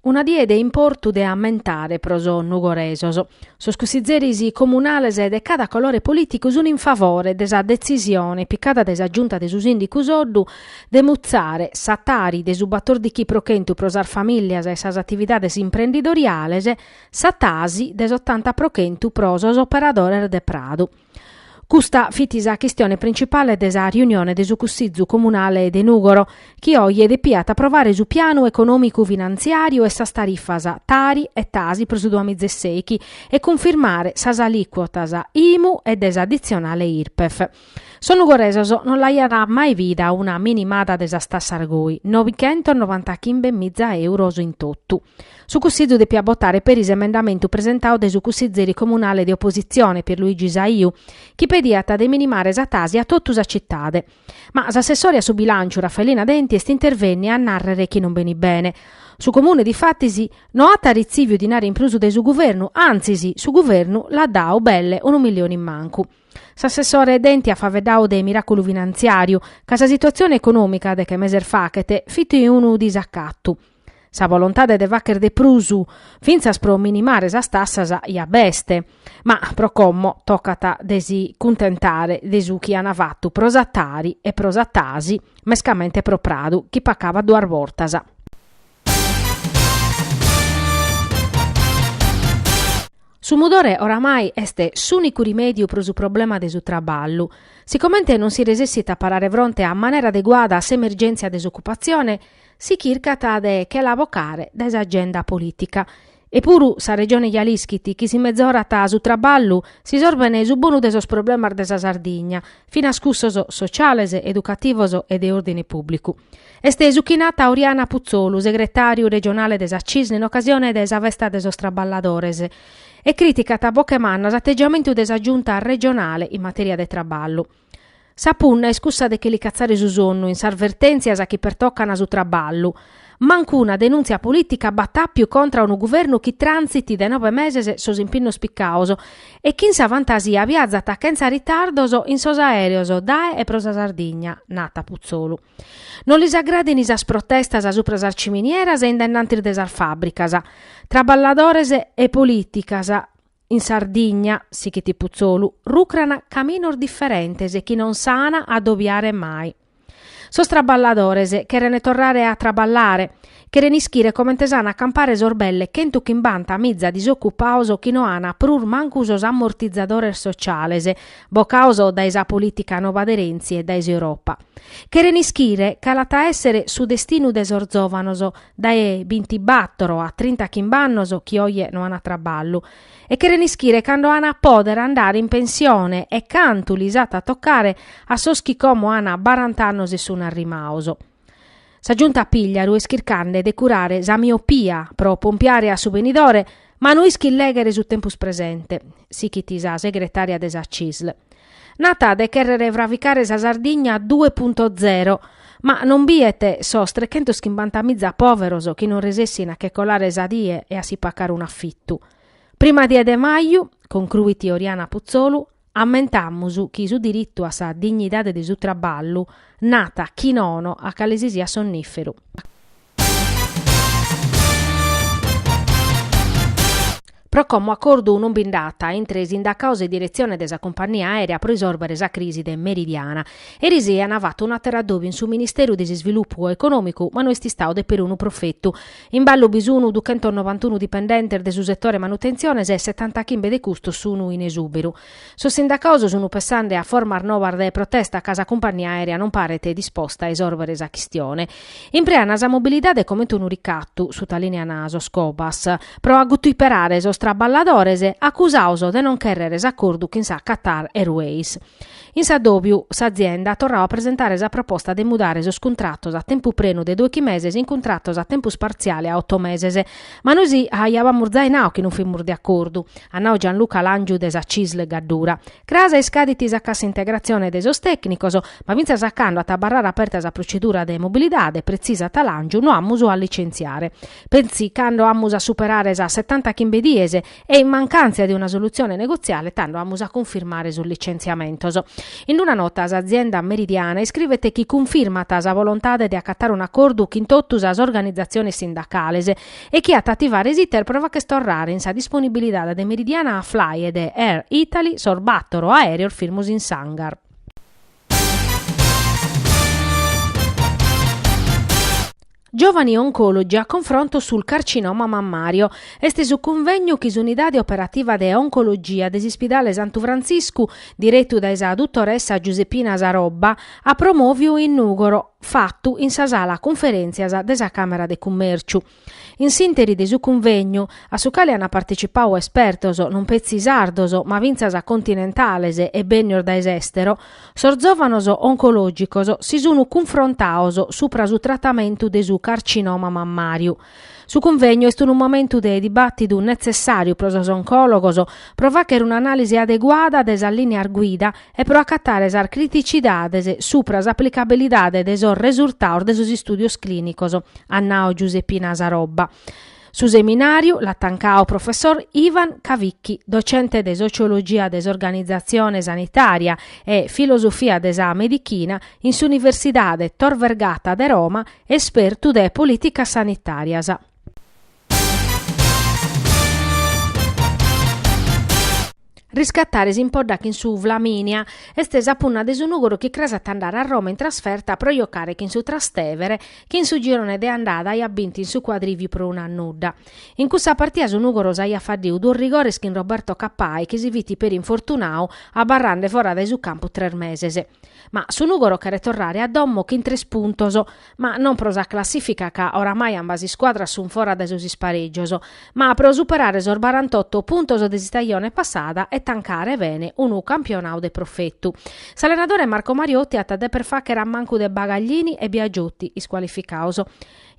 Una die de importu de ammentare pro sos nugoresos. Sos cussizeris comunales de cada colore polìticu sunt in favore de sa detzisione picada dae sa Giunta de su Sìndicu Soddu de mutzare sa tari de su batordichi pro chentu pro sas famìllias e sas atividades imprendidoriales, sa tasi de s'otanta pro chentu pro sos operadores de pradu. Custa fit sa chistione principale de sa riunione de su Cussizu Comunale de Nùgoro, chi oje depiat aprovare su pianu econòmicu finantziàriu e sas tarifas Tari e Tasi pro su duamizeseichi e cunfirmare sas alìcuotas Imu e de s'aditzionale Irpef. Sos nugoresos non l'aiant mai bida una minimada de sas tassas goi, nobighentos novantachimbemiza euros in totu. Su Cussizu depiat botare peri s'emendamentu presentau dae su cussizeri comunale de opositzione, Pierluigi Saiu, chi pediat de minimare sa tasi a totu sa citade. Ma s'assessore a su bilànciu, Raffaellina Denti, est intervènnia a nàrrere chi non benit bene. Su Comune, difatis, no at retzìviu dinari in prus dae su guvernu, antzis, su guvernu l'at dau belle unu milione in mancu. S'assessore Denti at faveddau de miràculu finantziàriu, ca sa situatzione econòmica, de che meses fachet, fit unu disacatu. Sa bolontade de facher de prus, fintzas pro minimare sas tassas, ja b'est, ma pro como tocat de si cuntentare de su chi an fatu pro sa Tari e pro sa Tasi, mescamente pro Pradu chi pacabat duas bortas. Su mudore oramai est s'ùnicu rimèdiu pro su problema de su traballu. Sicomente non si resessit a parare fronte a manera adeguada a s'emergèntzia de s'ocupatzione, si chircat de che la bocare dae s'agenda polìtica. E puru sa Regione ja l'ischit chi si mezorat su traballu s'isorben su bonu de sos problemas de sa Sardigna, finas cussos sociales, educativos e de òrdine pùblicu. Est su chi nat Oriana Putzolu, segretàriu regionale de sa Cisl in ocasione de sa festa de sos traballadores, e crìticat a boche manna s'ategiamentu de sa Giunta regionale in matèria de traballu. Sa punna est cussa de che li catzare su sonnu in sas vertèntzias chi pertocan su traballu. Mancu una denùntzia polìtica b'at àpiu contra a unu guvernu chi transit dae nobe meses sos impinnos picaos e chi in sa fantasia viazat chentza ritardos in sos aèreos dae e pro sa Sardigna, nat Putzolu. Non lis agradin sas protestas supra sas ciminieras e in dennantis de sas fàbricas. Traballadores e polìticas. In Sardigna, sichit Putzolu, rucran caminos diferentes chi non s'an a dobiare mai. Sos traballadores cheren torrare a traballare, cheren ischire comente s'an a campare sos belle chentu chimbanta miza disocupaos chi no an prus mancu sos ammortizadores sociales, bocaos dae sa polìtica nova de Renzi e dae s'Europa. Cheren ischire cale at a èssere su destinu de sos zòvanos dae bintibàtoro a trinta chimb'annos chi oje no an traballu e cheren ischire cando an a pòdere andare in pensione e cantu lis at a tocare a sos chi como an barant'annos e sun arrimaos. Sa giunta Pigliaru est chircande de curare sa miopia pro pompiare a su benidore, ma no ischit lèghere su tempus presente, sichit sa segretària de sa CISL. Nat de chèrrere fravicare sa Sardigna due punto zero, ma non biet sos trechentos chimbanta miza pòveros chi non resessint a che colare sa die e a si pacare un'afitu. Prima die de maju, concruit Oriana Puzzolu, Ammentamus chi su diritu a sa dignidade de su traballu nat a chi nono a cale si siat sonnìferu. Pro como acordu non bi nd'at intre sindacaos e diretzione de sa cumpagnia aèrea pro isòrbere sa crisi de Meridiana. Erisei an fatu un'àteru adòbiu in su Ministeru de s'Isvilupu Econòmicu ma no est istau de perunu profetu. In ballu bi sunu duchentonovantunu dipendentes de su setore manutentziones e setantachimbe de custos sunu in esùberu. Sos sindacaos sunu pessande a formas nobas de protesta ca sa cumpagnia aèrea non paret disposta a isòrbere sa chistione. Imprean sa mobilidade comente unu ricatu, sutalìnean sos Cobas, pro guturperare sos traballadores acusaos de non chèrrere s'acordu chin sa Qatar Airways. In s'addòbiu s'azienda at torrau a presentare sa proposta de mudare sos cuntratos a tempu prenu de doighi meses in cuntratos a tempus partziale a oto meses. Ma nois aìamus zai nau chi non fimus de acordu, at nau Gianluca Làngiu de sa CISL Gaddura. Cras iscadit sa cassa integrazione de sos tècnicos, ma fintzas a cando at a abarrare aperta sa procedura de mobilidade, pretzisat Làngiu, no amus a licentziare. Petzi cando amus a superare sas setanta chimbe dies, e in mancantza de una solutzione negotziale tando amus a cunfirmare sos litzentziamentos. In una nota s'azienda Meridiana iscrivet chi cunfirmat sa volontade de acatare un'acordu chin totu sas organizatziones sindacales e chi at ativare s'iter pro fagher torrare in sa disponibilidade de Meridiana Fly e de Air Italy sos bàtoro aèreos firmos in s'hangar. Giovani Oncologi a confronto sul carcinoma mammario. Est su cunvegnu chi s'Unidade Operativa de Oncologia de s'Ispidale Santu Frantziscu, diretu dae sa dutoressa Giuseppina Sarobba, at promòviu in Nùgoro, fatu in sa sala cunferèntzias de sa Càmera de Cummèrciu. In s'ìnteri de su cunvegnu, a su cale ant partetzipau espertos non petzi sardos ma fintzas continentales e bènnios dae s'èstero, Sos zòvanos oncològicos si sun cunfrontados supra su tratamentu de su carcinoma mammàriu. Su cunvegnu est unu momentu de dibàtidu netzessàriu pro sos oncòlogos pro fàghere un'anàlisi adeguada de sas lìneas guida e pro acatare sas criticidades supra s'aplicabilidade de sos resultados de sos istùdios clìnicos, at nadu Giuseppina Sarobba. Su seminàriu l'at tancadu professor Ivan Cavicchi, docente de sociologia de s'organizatzione sanitària e filosofia de sa medichina in s'Universidade Tor Vergata de Roma, espertu de polìticas sanitàrias. Riscatare s'impodda chin su Flaminia est sa punna de su Nùgoro chi cras at a andare a Roma in trasferta pro jocare chin su Trastevere chi in su girone de andada aiat bintu in su cuadrìviu pro unu a nudda. In cussa partida su Nùgoro s'aiat faddiu duos rigores chin Roberto Cappai chi si fit peri infortunadu abarrande fora dae su campu tres meses. Ma su Nùgoro cheret torrare a domo chin tres puntos. ma non pro sa classìfica ca oramai ambas iscuadras sunt fora dae sos isparègios, ma pro superare sos barantotto puntos de s'istajone passada e tancare bene unu campionadu de profetu. S'allenadore Marco Mariotti at a deper fàghere a mancu de Bagaglini e Biagiotti, iscualificados.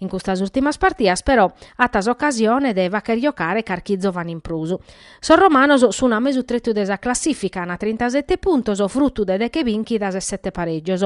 In custas ùrtimas partidas, però, at s'ocasione de fàghere jocare carchi zòvane in prus. Sos romanos sun a mesu tretu de sa classìfica, an trintasette puntos, frutu de deche bìnchidas e sette parègios.